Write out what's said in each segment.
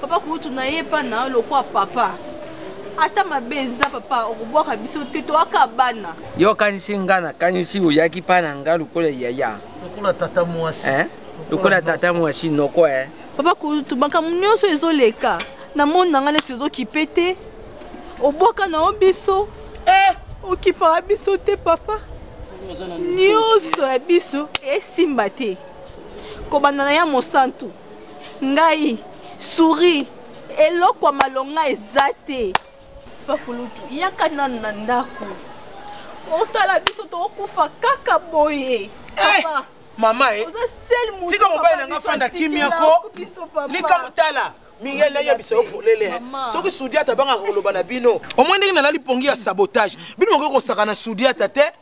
papa kutu na ye epa na yo lokwa papa ata mabe eza papa okobwaka biso te toyaka bana yo okanisi nga nakanisi oyaki mpa na nga lokola yaya lokola tata mwasi eh? lokola tata mwasi noko e papa kutu makambo nyonso ezoleka na moni na ngai neti ezokipe te obwaka na yo biso eh! okipaka biso te papa nyonso ya biso esimba te kobanda na ya mosantu ngai souris eloko ya malonga eza te bakulutu yaka nanu na ndako otala biso tokokufa kaka boye eh, mama eh. oza sel motika mobali nanga fanda kimia ko likambo tala mingel nayebisa yo polele soki sudiata abangaka koloba na bino omoi ndenge nalali pongi ya sabotage bino mokoki kosaka na sudiata te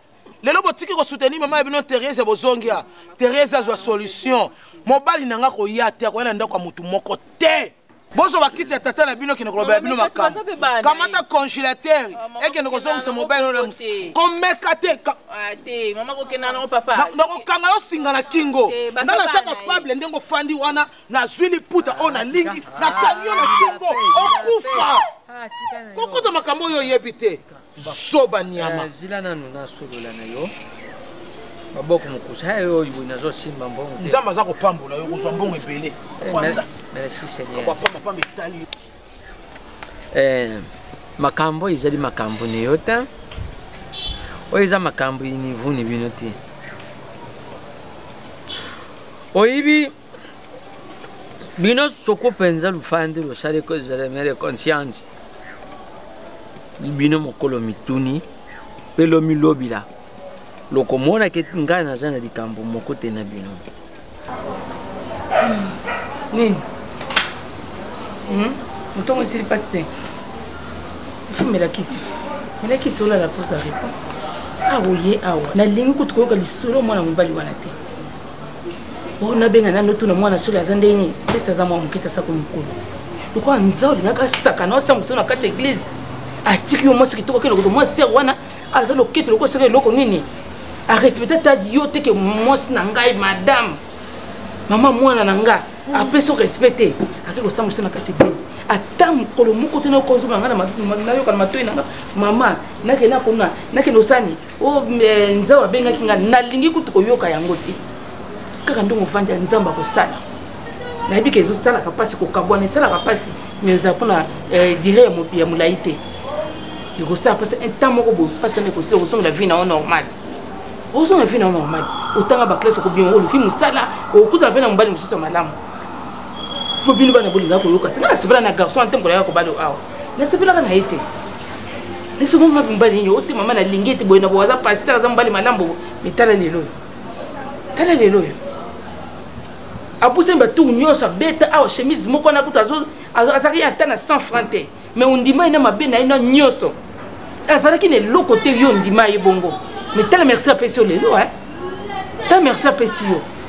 lelo botiki kosoutenir mama ya bino therese bozongia therese azwa solution mobali na nga koya te akoya na ndako ya motu moko te bozwa bakiti ya tata na bino kende kolobela bino makambo kamata congélateur ah, ekende kozongisa mobali oyo komeka te ah, nakokanga yo singa na kingo nga naza kapable ndenge ofandi wana nazwi liputa oyo nalingi nakangi yo na kingo okufa kokota makambo oyo oyebi te zoba niama eh, zila nanu nasolola na yo maboko mokusa eh, oyo boye nazosimba mbongo te nzambe aza kopambola yo kozwa mbongo ebele eh, kwanza merci seigneurpambapamba etali makambo oyo ezali makambo na yo te oyo eza makambo inivuni bino te oyebi bino soko mpenza lufandi losali mere conscience bino mokolo mituni mpe lomilobila lokomona ke ngai naza na likambo moko te na bino nini hmm? motongo esili mpasi te ofumela kisi ti mela kisi olala mposa repo aoye awa nalingi kutu koyoka lisolo mwana mobali wana te oyo nabenga nani otuna mwana soki aza ndenge nini pesi aza mwa moke tasa ko mokolo lokola nza olingaka sakana osala mosolo na kati ya eglize atiki yo mwasi kitoko kende kozwa mwa ser wana aza loketo lokola soki eloko nini arespecte ata yo teke mwasi na ngai madame mama mwana na nga apesi yo respect te ake kosala mosolo na kati ya eglize ata mokolo moko te nayoka ozonga ngai nayokana matoi na nga mama nakende akona nakende osani oyo eh, nzambe abengaki ngai nalingi kutu koyoka yango te kaka ndenge ofandi ya nzambe akosala nayebi ke ezosalaka mpasi kokabwana esalaka mpasi mais ezala mpona eh, dire ya molai te ekosala mpasi ntan moko boye mpasi wana ekosila okosongela vie na yo normale okosongela vie na yo normale otanga baklasse okobima oluki mosala okokutana mpe na mobali mosusu ya malamu mpo bino bana bolingaka koyoka te nga nasepela na garçon ante mokolo yaka kobalo awa nasepelaka na ye te esoko mabe mobali nini ote mama nalingi ete boye na bo aza pasteur aza mobali malambo mitala lelo oyo tala lelo oyo apusani batour nyonso abeta awa chemise moko wana kutu azalaki ya ata na 100 franc te mais ondima ye na mabe na ye na nyonso azalaki na eloko te yo ondima ye bongo mais tala merci apesi yo lelo e ta merci apesi yo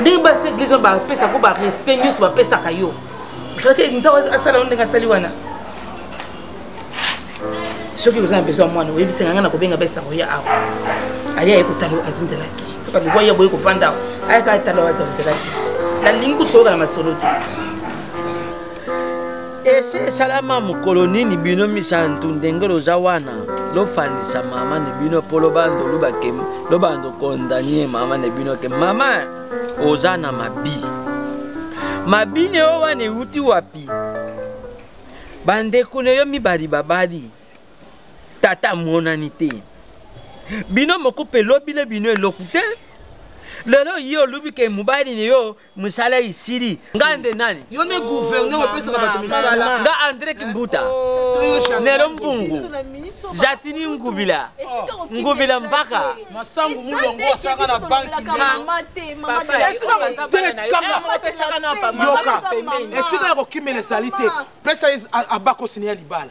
ndenge basi eglise wana bapesaka yo barespect nyonso bapesaka yo frake nzambe asala yo ndenge asali wana soki oza na besoin mwana oyebisaka ngai na kobenga besa koya awa aya ye kotala yo azwi nzela te soki alikuwa ye boye kofanda awa ayaka atala yo azwa nzela te nalingi kutu koyoka na masolo te ese esalama mokolo nini bino misantu ndenge loza wana lofandisa mama ne bino mpo lobando lubake lobando kondanie mama ne bino ke mama oza na mabi mabi ne yo wana euti wapi bandeko ne yo mibali babali tata amonani te bino moko mpe lobi na bino eloko te lelo ye olubi ke mobali ne yo misala isili ngai nde nani yo nde gouverneur opesaka bato misala nga andre kimbuta oh. nelo mbungu jatini ngubila ngubila mpaka masangu mulongo asaka na banki esika ya kokimela ezali te pesa abakosini ya libala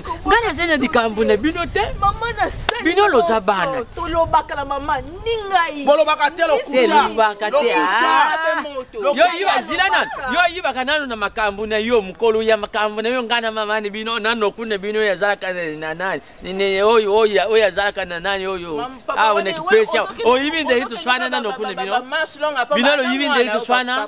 ngai naza na likambo na bino te bino loza bana tolobaka na mama ni ngai bolobaka te lokulabaka te ah. yo yiba zila nano yo ayibaka nano na makambo na yo mokolo ya makambo na yo ngai na mama na bino nanoku na bino oyo azalaka na nani oyo oyo azalaka na nani oyo awa na kipesi awa oyibi ndeki toswana nanoku na bino bino loyibi ndeki toswana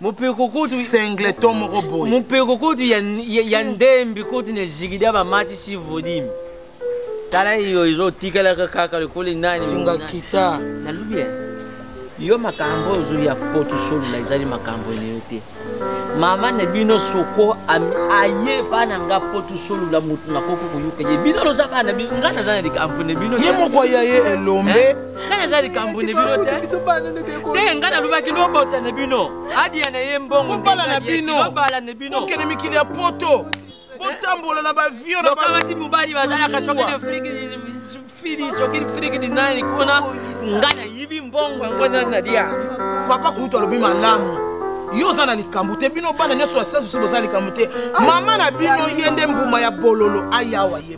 mopeko kutu singleton moko boye mopeko kutu ya, ya, ya ndembi kutu na jigida bamatisi vodimi tala yo ezotikalaka kaka lokola nani singa kita nalubi yo makambo oyo ozoya poto solola ezali makambo ene yo te mama na bino soko aye bana nga poto solola motu nakoki koyoka ye bino loza bana nga naza na likambo na bino ye moko aya ye elombe nga naza likambo na bino te te nga nalobaki lobota na bino adiya na ye mbongo obala na bino obala na bino okende mikili ya poto botambola na bavio na bakamati mobali bazalaka soki na friki fili soki friki dinani kuna nga nayibi mbongo yango nani nalia papa kutu alobi malamu yo oza na likambo te bino bana nyonso ya sasi boza likambo te mama na bino ye nde mbuma ya bololo ayawa ye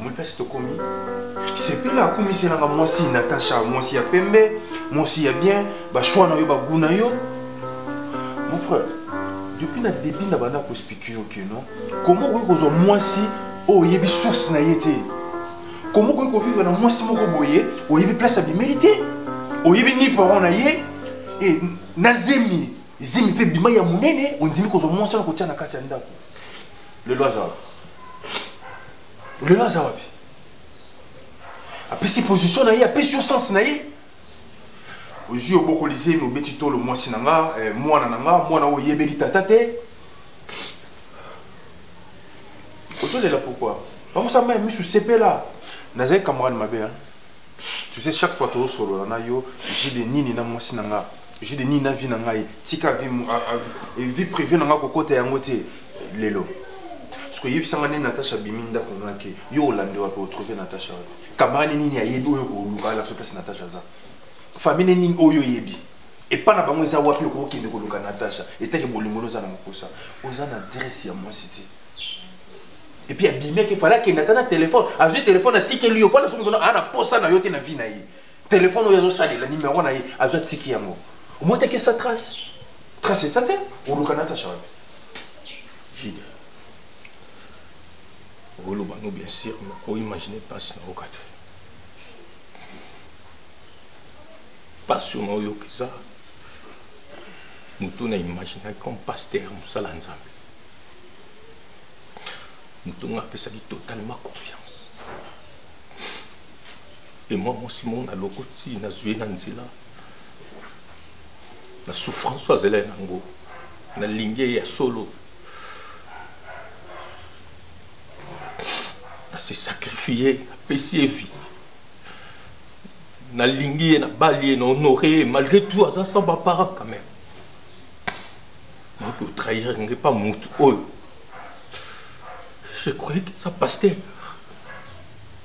omoni place tokomi sepela akumiselanga mwasi natacha mwasi ya pembe mwasi ya bien bashwa na yo bagu na yo mon frère depuis na début na banda kospike yo ke non koma okoki kozwa mwasi oyo oh, oyebi source na ye te koma okoki kovivre na mwasi moko boye oyebi place abimeli te oyebi ni parent na ye e na zemi zemi mpe bima ya monene ondimi kozwa mwasi wana kotia na kati ya ndako lelo aza wapi lelo aza wapi apesi position na ye apesi yo sense na ye ozwi obokoli zemi obeti tolo mwasi na nga eh, mwana na nga mwana oyo oyebeli tata te ozolela pourkoi bangosa mai misu sepela nazali camarade mabe tu sais chaque fois tozosolola na yo jide nini na mwasi na nga jeu de nini na vie na ngai tika vie vie privée na ngai kokota yango te lelo soki oyebisa ngai nde natacha abimi ndako nga ke yo olande wapi otrouve natacha wapi camarade nini ayebi oyo koluka alakso place natacha aza famille nini oyo oyebi epa na bango eza wapi okokende koluka natacha etake bolingo no oza na mokosa oza na adresse ya mwasi te epuis abimi akefala akende ata na telefone azwi telefone atikeli yo mpo na soki ana mposa na yo te na vie na ye telefone oyo azosalela nimero na ye azwa tiki yango omotaki esa trace trace esa te oluka natasha wapi jide oloba no bien sûr oimagine mpasi na oyoka te mpasi oyo naoyoka eza motu na imaginaki comme pasteur mosala nzambe motu nga apesaki totalement confiance mpe mwa mwasi moko nalokoti nazwi ye na nzela na souffrance oyo azali yango nalingi ye ya solo nase sacrifie napesi ye vie nalingi ye nabali ye na honore ye malgré tout aza sans baparent quand même nayoki otrahir nge mpa motu oyo je croyais que eza pasteur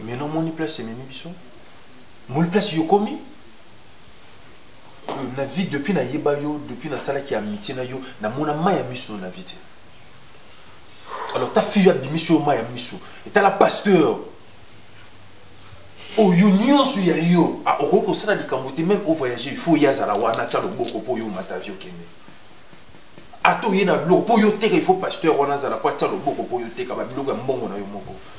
mais non moni place ememi biso moni place yokomi euh, na vie depuis nayeba yo depuis nasalaki amitié na yo namona mai ya miso no na vie te alors ta fille abimisi yo mai ya miso etala pasteur oyo nyonso ya yo ah, okoki kosala likambo te meme ovoyage il faut ye azala wana atya loboko mpo yo omata vie okende ata oye na biloko mpo yo oteka il faut pasteur wana azala mpo atya loboko mpo yo oteka babiloko ya mbongo na yo moko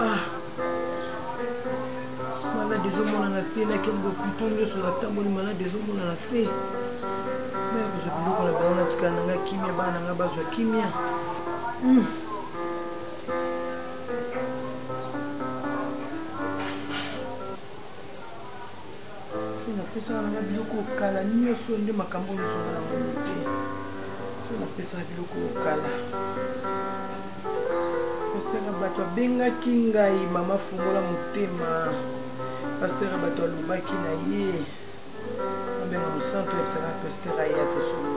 ah. malade ezomonana te nakende bopito nyonso natamboli malade ezomonana te maya kozwa biloko na bango natikala na ngai kimia bana na ngai bazwa kimia hmm. napesaka nanga biloko kala nyonso nde makambo ozwaka na mono te so napesaka biloko kala pastera bato abengaki ngai mama fungola motema pastera bato alobaki na ye abenga mosantu ayebisaka pastera ye atosolo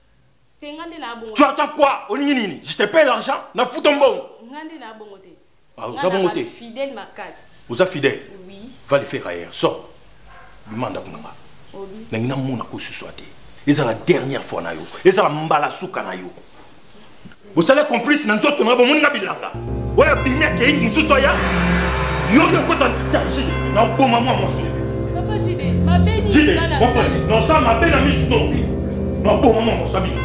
Tu attends quoi Olingi nini Je te paye l'argent Na fout ton bon Ngande na bongo te. Ah, oza bongo te. Fidèle makasi. Oza fidèle Oui. Va le faire ailleurs. Sors. Bimanda kunanga. Obi. Nangi na mona ko suswa te. Eza la dernière fois na yo. Eza la mbala suka na yo. bosala complice na nzoto na bomoni nga bilanga oyo abimi akei mosusu aya yo nde okota taji na oboma mwa mwasi jide nosala mabe na misu to na oboma mwa mwasi abino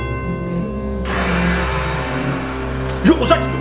yo oza kilo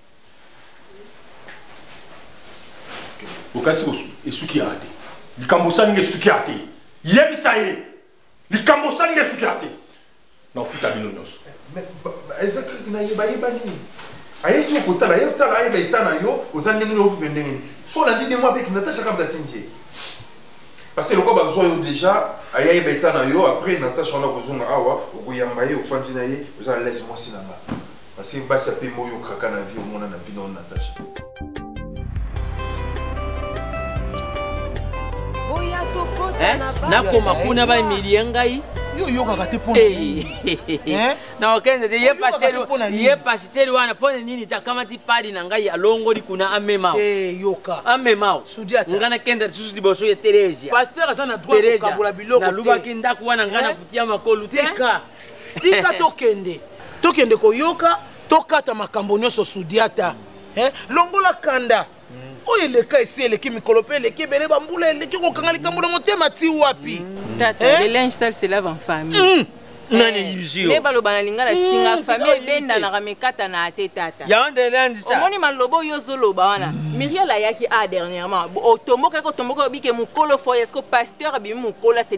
okasi esuki yaka te likambo osali nga esuki yaka te yebisa ye likambo osali nga esuki yaka te na ofuta bino nyonso eza kaka nayeba yeba nini aye soki okotala ye otala ayeba eta na yo oza ndenge nini ofuta ndenge nini so olandi ndenge wapi natasha kaka batindi ye parce que lokola bazwa yo déjà aye ayeba eta na yo après natasha wana kozonga awa okoyamba ye ofandi na ye oza na lese mwasi na nga Parce que basi ape mo yo kraka na vie omona na vie na Natacha. Hein? nakoma kuna bamilie ngai yo oyokaka te mpo na okende te ye pasiteri wana mpo na nini takamati padi na ngai alongoli kuna amema yoka amema ngai nakenda lisusu liboso ya teresia nalubaki ndako wana ngai nakutia makolu te tika tokende tokende koyoka tokata makambo nyonso sudiata eh? longola kanda oyo eleka esi eleki mikolo mpe eleki ebele bambula eleki kokanga likambo na motema ti wapi mm. tata eh? le linge sale se lave en famille mm. nani eh, yuzio nde baloba na lingala mm, singa famille ebendanaka mekatanaka te tata omoni maloba oyo ozoloba wana mm. miriel ayaki a ah, dernièrement otombokaki otombokaki obike mokolo foye eske pasteur abimi mokolo ase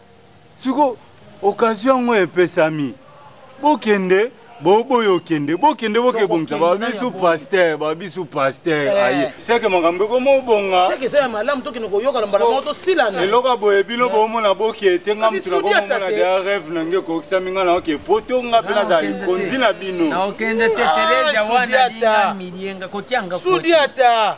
siko occasion yango epesami bokende boboyo okende bokende bokebongisa babisu paster babisu paster eh. aye seke makambo ekomobongaeloka boye bino eh. bomona boke te nga motu nakomomona dea reve na nge ekokisami nga naoke poto nga mpe nazala likonzi na bino ah, sudiata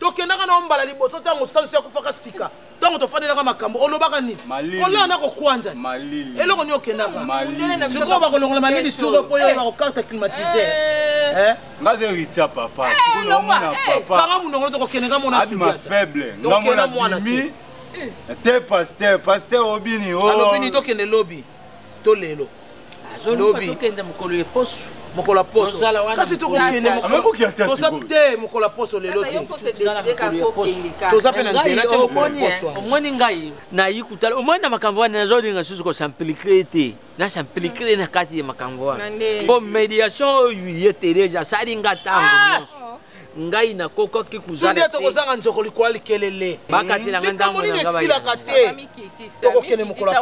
tokendaka na yo mbala liboso ntango sansu akufaka sika ntango tofandelaka makambo olobaka nini kolala na kokwanja eloko nini okendaka sikoyo bakolongola malili turo mpo yo bakokarte climatiseur nga de ritia papa sikomona papakanga monoko tokokende nga mona adima faible nga mona bimi te pasteur pasteur obini o alobini tokende lobi to lelo lobi tokende mokolo ya poso mokolo ya poso kasi tokokende te mokolo ya poso lelo te toza mpe na nzela te mokolo ya poso omoni ngai nayi kutala omoni na makambo wana nazolinga susu kosamplike te nasamplike na kati ya makambo wana mpo mediation oyo ye teresa asali nga ntango ah! nyonso ngai nakokaki kuzala tokozanga nzoko likola likelele bakatela nga ntango nini esilaka te tokokende mokolo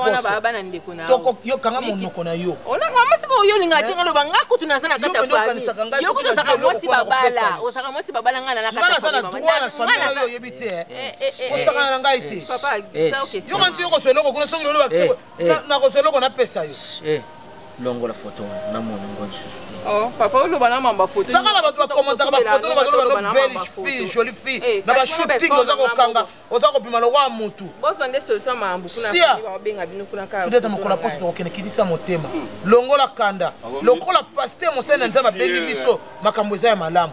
yokanga monoko na yo masika oyo olinga te ngaloba nga kutu naza na kati ya fami yo kutu ozaka mwasi babala ozaka mwasi babala ngai nanaoyebi te osakana na ngai te yokanisi yokoswa eloko kuna soki loloba Eh. nakozwa eloko napesa yo eh, longola foto na mona ngo lisusu oh, papa oloba na mamba foto saka na bato bakomantaka bafoto na bato loba no belge fille jolie fille eh, na bashooting oza kokanga oza kobima lokola motu sudeta mokolo ya poso tokokende kilisa motema longola kanda lokola paster mosali na nzambe abengi biso makambo eza ya malamu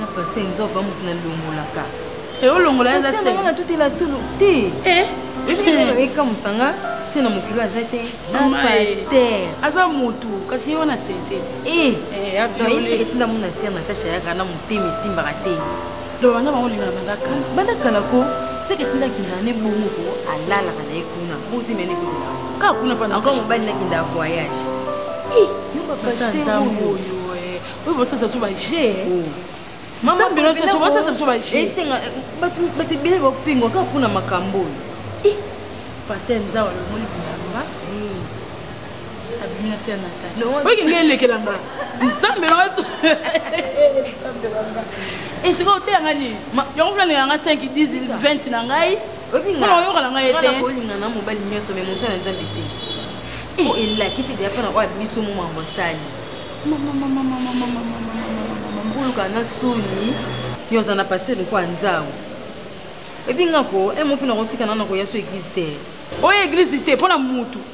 na pase nzoba moto nalongolaka eolongola eza senga natutela tulu te eh? ekamusa nga se na mokili aza te paster aza motu kasi ye wana senteti esinda mona ser natasha yaka na motema esimbaka te loba na bango olingaka banda kala banda kala ko seke etinda akendaka ne bongo ko alalaka na ye kuna bozemya ne kuna kaka kuna pana encore mobali nakenda voyage yo bapaster oyo oyo bosasa biso baje mama bino biso bosasa biso baje esenga bato ebele bapengwa kaka kuna makambo oyo paster nzawa lomoni bilamba abimi na se ya natali oyo nde elekela nga nzambe na esika oteya nga nini yango fulani ya nga 5 10 20 na ngai mpona oyoka na ngai ete olinga na mobali nyonso me mosala na nzambe te eh. oyo elakisi deya mpona oyo abiso mo mambo asali oluka na soni yo oza na paster lokola nzango epi ngako emo mpe nakotika nana koya so eglise te oyo eglise te mpo na mutu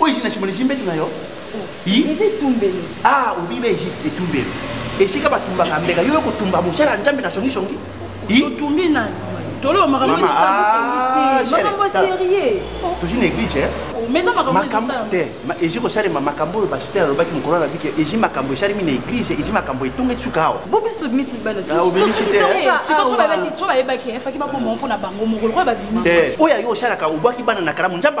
oyo ezina simona ezimbetu na yo ah obiba etumbelo esika batumbaka mbeka yo okotumba mosala ya nzambe na songisongi otumbi nani tolomaka tozi na église makambo te ezi kosalema makambo oyo basiter alobaki mokolo alobiki ezi makambo esalemi na église ezi makambo etonga esuka awa oyo ayo osalaka obwaki bana na kalamu nzambe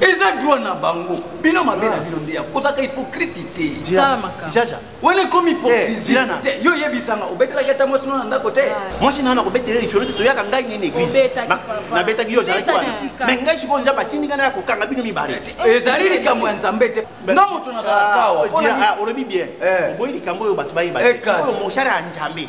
eza droit na bango bino mabe na bino ndeya kozaka hypocrite te wana ekomi hypocrisie eh, te yo oyebisanga obetelaki ata mwasi nona ndako te mwasi nana kobetela lisolo te toyaka ngai nini eglise nabetaki yo ozalaki wana mai ngai sikoyo nzambe atindi ngai naya kokanga bino mibale ezali likambo ya nzambe te na moto nazalakawa ah, ah, olobi bien eh. oboyi likambo oyo bato bayeba sikoyo moshara ya nzambe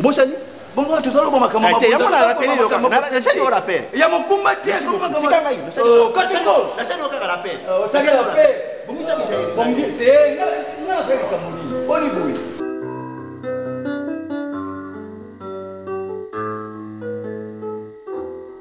obosani bongo wana tozoloba makambo eh, ya mokumba te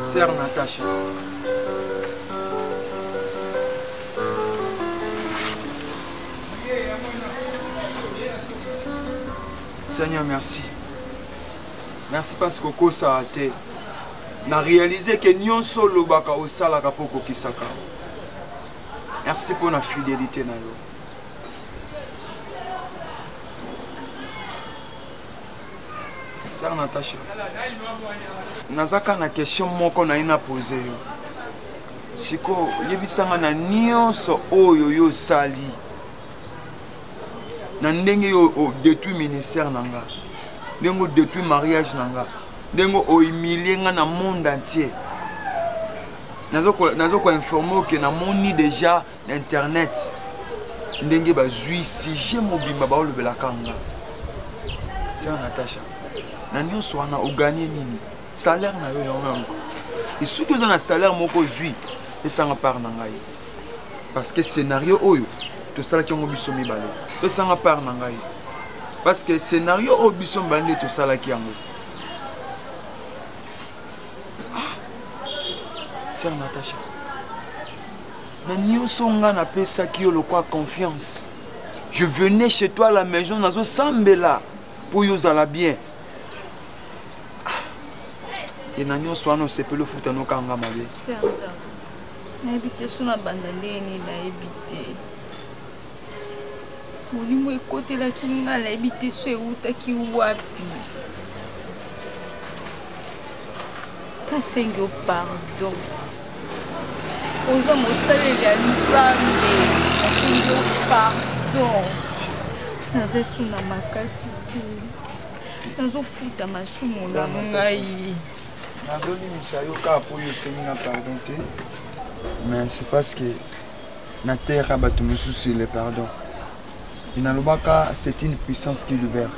Sœur Natacha. Seigneur, merci. Merci parce que kosa a te. Na réalisé que nyonso lobaka osalaka po kokisaka. Merci pour la fidélité na yo. sœur Natacha naza kaka na question moko naye na pose yo sikoyo yebisanga na nyonso oyo yo osali na ndenge yo odetruit ministère na nga ndenge odetruit mariage na nga ndenge ohumilie nga na monde entier nazo koinforme oke namoni déjà na na internet ndenge bazwi sujet mobimba baolobelaka nga sera natacha na nyonso wana oganie nini salaire na yo yango yango esoki oza na salaire moko ozwi pesanga part na ngai parce que scénario oyo tosalaki yango biso mibale pesanga part na ngai parce que scénario oyo biso mibale nde tosalaki yango ah, sœur natacha na nioso nga na pesaki yo lokwa confiance je venais chez toi à la maison nazo sambela pour yo zala bien et na nioso wana osepeli ofuta nokanga mabe nayebi te so na banda ndenge nini nayebi te molimo ekotelaki nga nayebi te so ewutaki wapi nasengi yo pardon oza mosaleli ya nzambe nasengi yo pardon naza esu na makasi te nazofuta masumu na ngai nazolimisa yo kaka mpo yo osengi na pardon te mais c'est parce que na terre ya bato mosusu ile pardon inalobaka c'est une puissance qui libère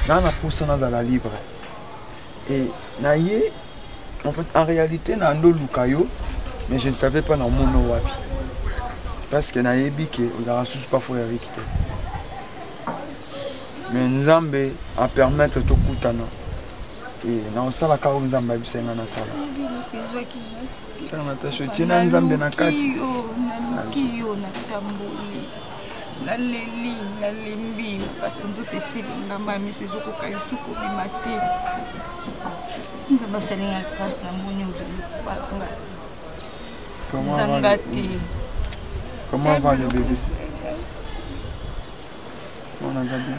naa napusa nazala libre e na ye en fait en réalité na ndoluka yo mais je ne savais pas na mono wapi parce que nayebi ke ozalaka susu parfois ya riki te mais nzambe apermettre tokutana e na osalaka oyo nzambe abisenga nasala Sala Natacha otie na Nzambe na kati. Naluki yo na tamboli. Naleli, nalembi, kasi nzoto esili ngamba miso ezokoka lisu kobima te. Nzambe asali ngai grâce na moni obimi kobala ngai. Zanga te. Comment va le bébé? On a bien.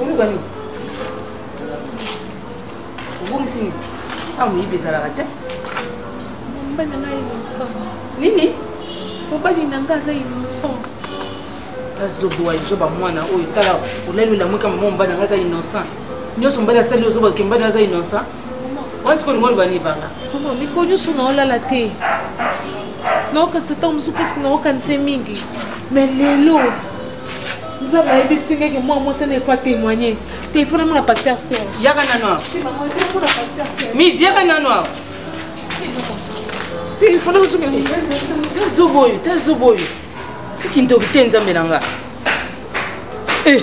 oluka nini obungisi nini awa moyibi ezalaka te mobali na ngai innocent nini mobali na ngai aza innocent azobowa lizoba mwana oyo tala olali olamuka mama mobali na ngai aza innocent nyonso mobali asali ozoba kembali aza innocent wana sikoyo olingo olobani banga mikolo nyonso naolala te naokanisa ntango mosusu mposke naokanisa mingi mais lelo nzambe ayebisi ngai ke mwana mwasi ana efa témoigne te ifona mona paster serge yaka nano awa mis yaka nano awa te ifona kozongela ta zobo oyo ta zobo oyo okindoki te nzambe na nga eh.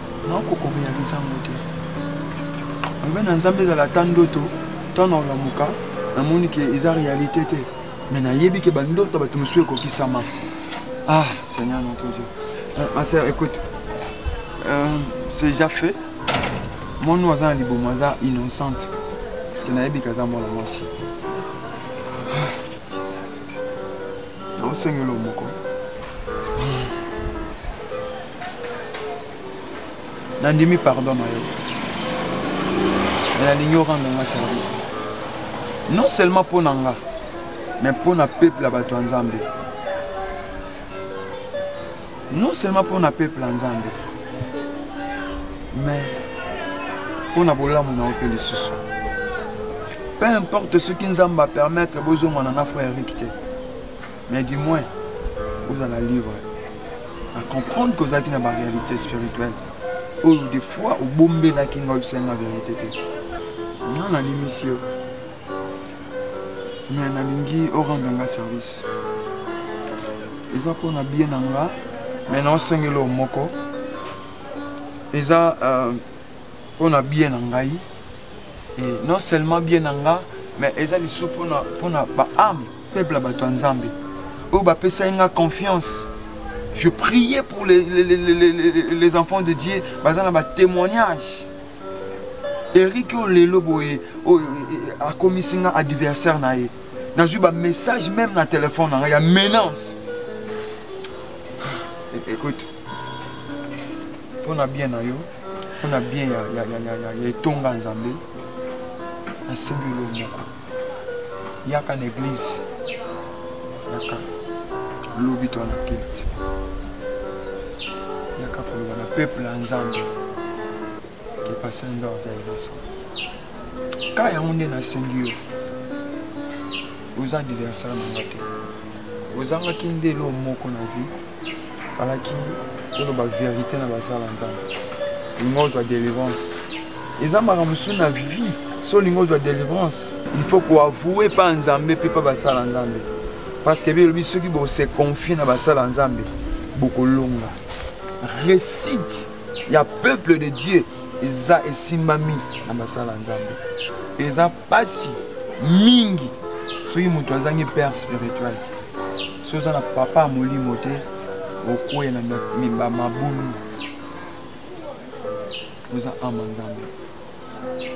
naoko korealize yango te alobi na nzambe ezala ata ndoto ntango naolamuka namoni ke eza réalité te mais nayebi ke bandoto ya bato mosusu ekokisama ah seigneur notre dieu euh, ma sœur écoute euh, c'est déjà fait mwana oyo aza na libumu aza innocente parce que nayebi ke aza mwana mwasi naosengela omoko nandimi pardon na yo me nalingi orendre nga service non seulement mpo na nga mais mpo na peuple ya bato ya nzambe non seulement mpo na peuple ya nzambe mais mpo na bolamu na yo mpe lisusu peu importe soki nzambe apermettre bozongana na frère erik te mais du moins ozala libre na comprendre que ozalaki na baréalité spirituelle oyo des fois obombelaki ngai obisangi na vérité te nga nalimisi yo mais nalingi orendre nga service eza mpo na bie na nga mais naosengeli o moko eza euh, mpo na bie na ngai et non seulement bie na nga mais eza lisusu mpo na baame peuple ya bato ya nzambe oyo bapesaki nga confiance je priais pour les, les, les, les enfants de dieu baza na batémoignage eric oyo lelo boye oyo e, e, akomisi nga adversaire na ye nazwi bamessage meme na telefone na ngai ya menace e, écoute mpo na bien na yo mpo na bien ya etonga nzambe nasengi yo moko yaka na eglise yaka lobi to na kiti yaka koloba na peuple ya nzambe kepasa nzambe aza liboso ka yango nde nasengi yo oza diversare na nga te ozangaki nde elo moko na vie falaki oloba verité na basala nzambe olinga ozwa délivrance eza makambo mosusu na vie so olinga ozwa délivrance il faut koavoue mpa nzambe mpe mpa basala nzambe parce que bi elobi soki bose confie na basala nzambe bokolonga récite ya peuple de dieu eza esimbami na basala nzambe eza Basi mingi soki moto azangi père spirituel soki oza na papa ya molimo te okwei na mimba mabulu oza ama nzambe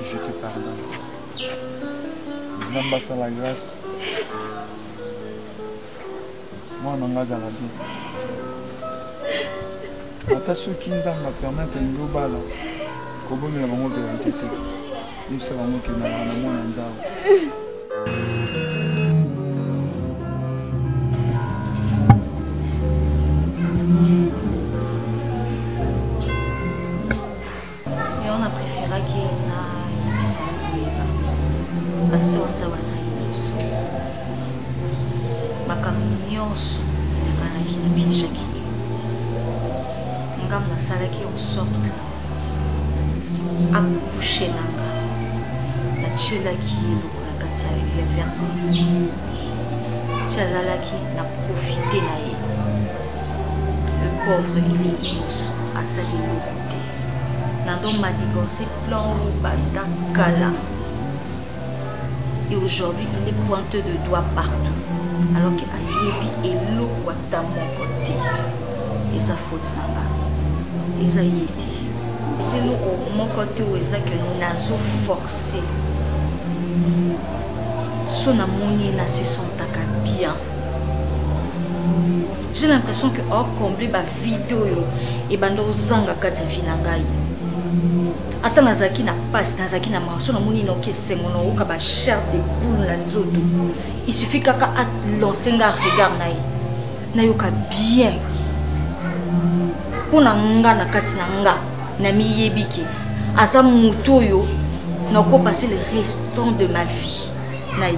je te pardonne nzambe asala grâce mwana na ngai azala bien ata soki nzambe apermetre elingi obala kobomela bango verite te yebisa bango kendaka na mwana nzambe Yango na preferaki na yebisa koyeba pasteur nzambe azali nyonso makambo nyonso enakanaki na bienjaki ye ngambo nasalaki en sorte que akouche na nga natyelaki ye lokola kati ya verni ti alalaki na profite na ye le pauvre il est nyonso asali eloko nazo manigancer plan oyo banda kala et aujourd'hui il est pointeux de doigt partout alors que ayebi eloko ata moko te eza faute na nga eza ye te eza eloko moko te oyo eza ke nazo force so namoni na se sentaka bien j'ai l'impression que ocombler ba video oyo ebanda ozanga kati ya vi na ngai ata nazalaki na mpasi nazalaki na marso namoni noki esengo naoyoka ba chair de poule na nzoto isuffit kaka alance nga regard na ye nayoka bien mpo na nga na kati na nga namiyebi ke aza moto oyo nakopase le restant de ma vie na ye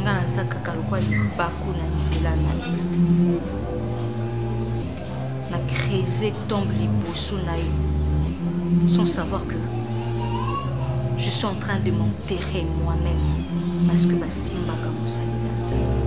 nga naza kaka lokwa libaku na nzela na yo na crese tombe liboso na yo sans savoir que je suis en train de m'enterrer moi-même parce que basimbaka mosali na nzambe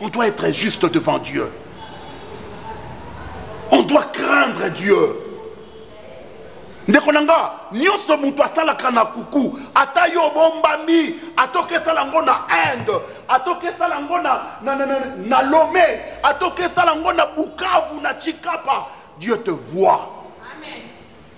On doit être juste devant Dieu. On doit craindre Dieu. ndeko na nga nyonso moto asalaka na kuku ata yo obombami atoki esala yango na inde atoki esala yango na, na, na, na, na lome atoki esala yango na bukavu na chikapa dieu te voit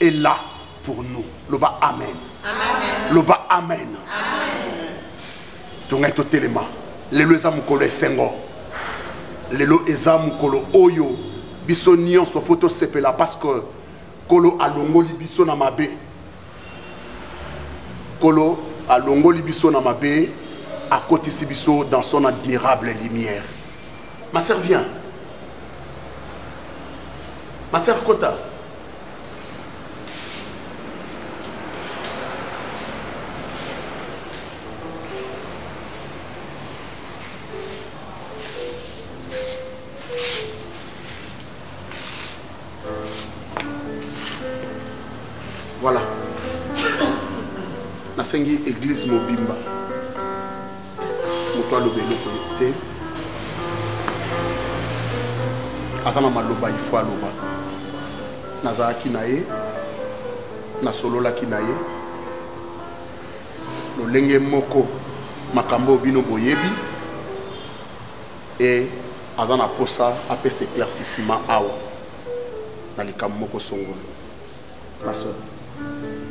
est là pour nous loba amen loba amen tongai totelema lelo eza mokolo esengo lelo eza mokolo oyo biso nyonso fo tosepela parce que nkolo alongoli biso na mabe nkolo alongoli biso na mabe akotisi biso dans son admirable lumière ma sœur vient ma sœur kota nasengi eglise mobimba moto aloba eloko ye te aza na maloba ifo aloba nazalaki na ye nasololaki na ye lolenge moko makambo oyo bino boyebi e aza na mposa apesa éclaircissement awa na likambo moko songolo Mason,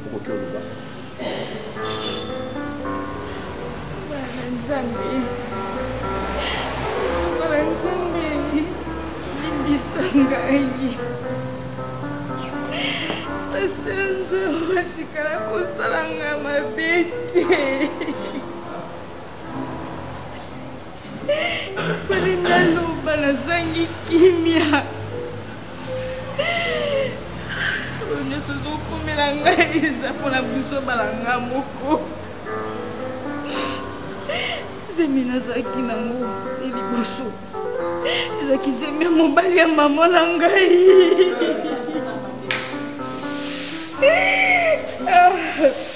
okoki oloba. Bana Nzambe. Bana Nzambe. Limbisa ngai. Pasteur Nzambe atikala kosala ngai mabe te. fale naloba nazangi kimia oyo nyonso ezokomela ngai eza mpona buzoba na nga moko zemi nazalaki nango e liboso ezalaki zemi ya mobali ya mama na ngai ah.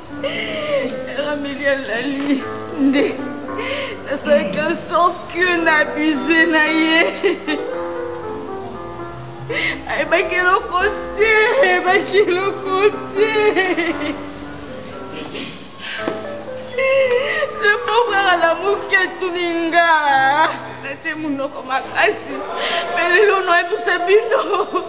rameli alali nde nasalaki en sorte que na abuse na ye ayebaki eloko te ayebaki eloko te le pauvre alamuki atuni nga natie monoko makasi mpe lelo noyebisa bino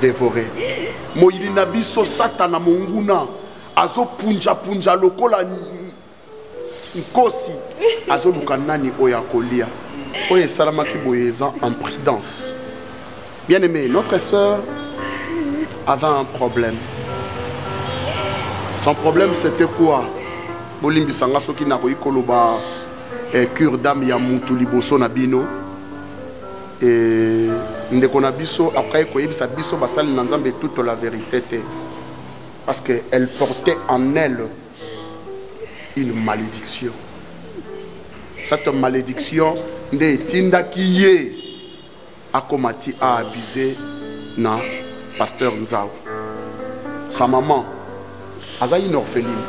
devore moyini na biso satana monguna azopunjapunja lokola nkosi azoluka nani oyo akolia oyo esalamaki boye eza en prudence bien aimé notre sœur avait un problème son problème c'était quoi bolimbisa nga soki nakoki koloba eh, cure dame ya mutu liboso na bino E, ndeko na biso après koyebisa biso basali na nzambe toute la vérité te parce que elle portait en elle une malédiction cette malédiction nde etindaki ye akoma ti a abuse na pasteur nzao sa maman aza une orpheline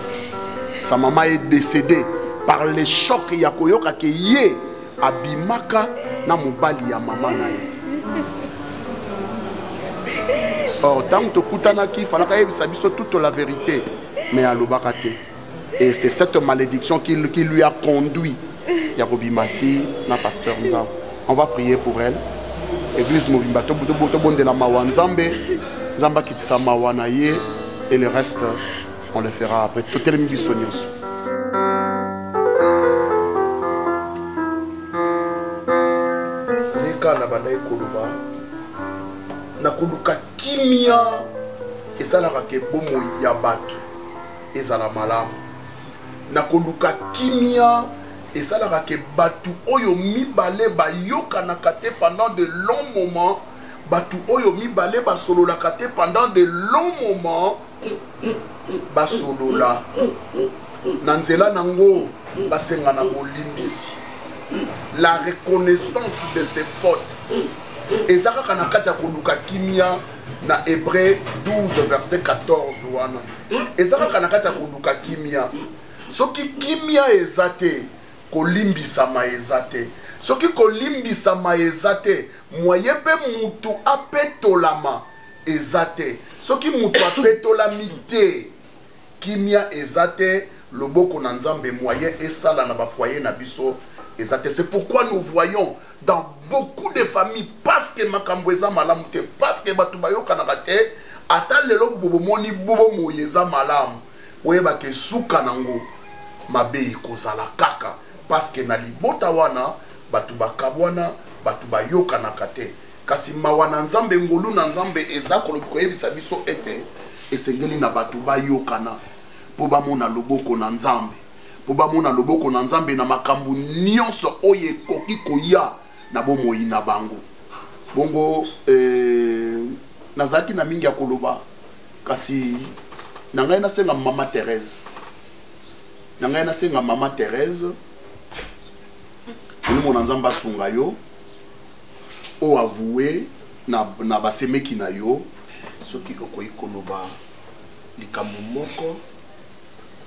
sa maman est décédée par le choc ya koyoka ke ye abimaka na mobali ya mama na ye or ntango tokutanaki falaka ayebisa biso toute la vérité mais alobaka te et c'est cette malédiction qui, qui lui a conduit ya kobima ti na pasteur nzambe on va prier pour elle église mobimba tobondela mawa nzambe nzambe akitisa mawa na ye et le reste On le fera après. Tout le monde sonios. Nika na banda ekoloba na koluka kimia esalaka ke bomoi ya bato ezala malamu na koluka kimia esalaka ke bato oyo mibale bayokanaka te pendant de long moment bato oyo mibale basololaka te pendant de long moment basolola na nzela nango basenga na bolimbisi la reconnaissance de ses fautes eza kaka na kati ya koluka kimia na hébreu 12 verset 14 wana eza kaka na kati ya koluka kimia soki kimia eza te kolimbisama eza te soki kolimbisama eza te moye mpe mutu apetolama eza te soki moto apetolami te kimia eza te loboko na nzambe moyen esala na bafoye na biso eza te c'est pourquoi nous voyons dans beaucoup de familles parce que makambo eza malamu te parce que bato bayokanaka te ata lelo bobomoni bobo moye eza malamu oyebaka esuka nango mabe ekozala kaka parce que na libota wana bato bakabwana bato bayokanaka te Kasi mawa na Nzambe, ngolu na Nzambe eza kolobi koyebisa biso ete esengeli na bato bayokana mpo bamona loboko na Nzambe, mpo bamona loboko na Nzambe na makambo nyonso oyo ekoki koya na bomoi na bango. Bongo eh, nazalaki na mingi ya koloba, kasi na ngai nasenga mama Therese, na ngai nasenga mama Therese, Molimo na Nzambe asunga yo. o avoue na, na basemeki na yo soki okoki koloba likambo moko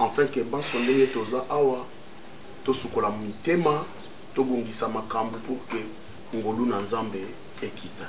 enfin ke banso ndenge toza awa tosukola mitema tobongisa makambo pour ke ngolu na nzambe ekita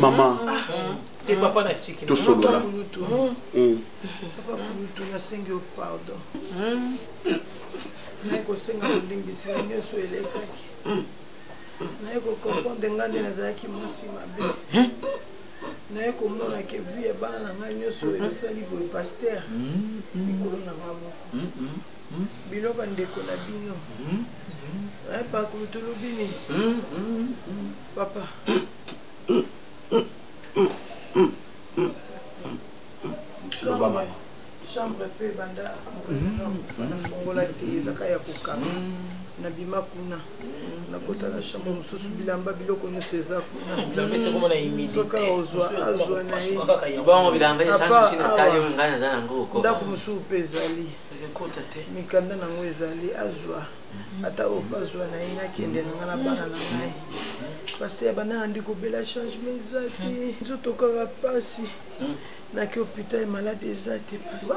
mama tosolola naye kosenga bolimbisi na nyonso elekaki naye kokomprendre ngai nde nazalaki mwasi mabe naye komona ke vi ya bana na ngai nyonso esali boye paster mikolo na ngai moko Hmm? bino bandeko na bino hmm? eh, bakulutulubi nini hmm? papa chambre mpe banda fongola te ezaka ya kokanga nabima kuna nakota na chambre mosusu bilamba biloko nyonso eza kunasoka ozwa azwa na ye ndako mosusu mpe ezali mikanda na yango ezali azwa ata oyo mpe azwa na ye nakende na ngai na bana na ngai paster bana yandi kobela changement eza te nzoto kaka mpasi naki hôpital malade eza te paster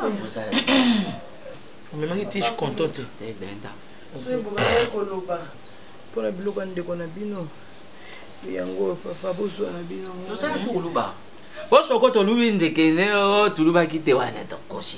omemaki tige konto te eh, soki bobandaki koloba mpo na biloko ya ndeko na bino yango papa bozwa na bino osoko tolubi ndekene oh, tolubaki te wana tokosi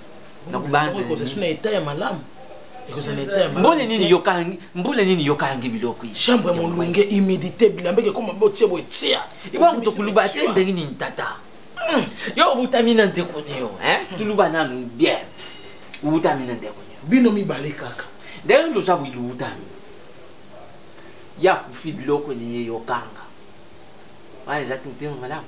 mbole nini yokangi mbole nini yokangi biloko chambre molunge humidité bilamba ekoma botie boye tia iba moto koluba te ndenge nini tata hmm. yo obutami na ndeko nio toluba nanu bien obutami na ndeko nio bino mibale kaka ndenge nini oza boyi lobutami ya kufi biloko nini yokanga wana ezaki motema malamu